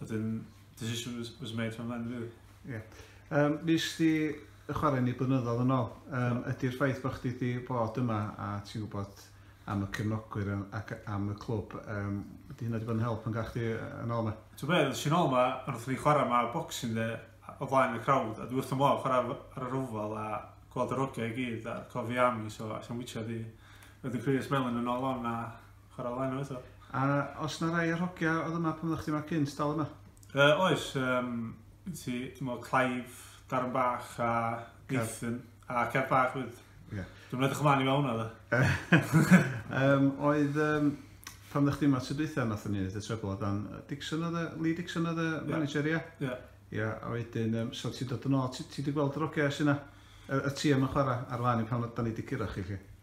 Wedyn, decision was, was made from then, really. Ie. Yeah. Um, nes di y chwarae ni blynyddoedd yn ôl, um, ydy'r ffaith bod chdi wedi bod yma a ti'n gwybod am y cefnogwyr ac am y clwb, um, ydy hynna wedi bod yn help yn gael chdi yn ôl yma? Ti'n beth, sy'n ôl yma, ond wrth ni chwarae yma boxing de, o flaen y crowd, a dwi wrth ymlaen chwarae ar y rhwfel a gweld yr ogiau i gyd a cofi am i, so a sy'n wytio di. Wedyn Chris Mellon yn ôl o'n a Chwarae lan o eto. A os na rai o'r hogia oedd yma pan oeddech chdi yma cynt dal yma? Uh, oes, um, ti, ti'n meddwl Clive, Darren Bach a Nathan, a Kev Bach wyd. Yeah. Dwi'n edrych ymlaen i mewn oedd e. um, oedd, um, pan oeddech chdi yma tro dwytha, nath ni wneud y trebl o dan Dixon oedd e, Lee Dixon oedd e, manager, ia? Ia. Ia, a wedyn, um, so ti'n dod yn ôl, ti wedi gweld yr ogau sy'n yna? y, y ti am y chwarae ar lan i pan da ni wedi curo chi chi?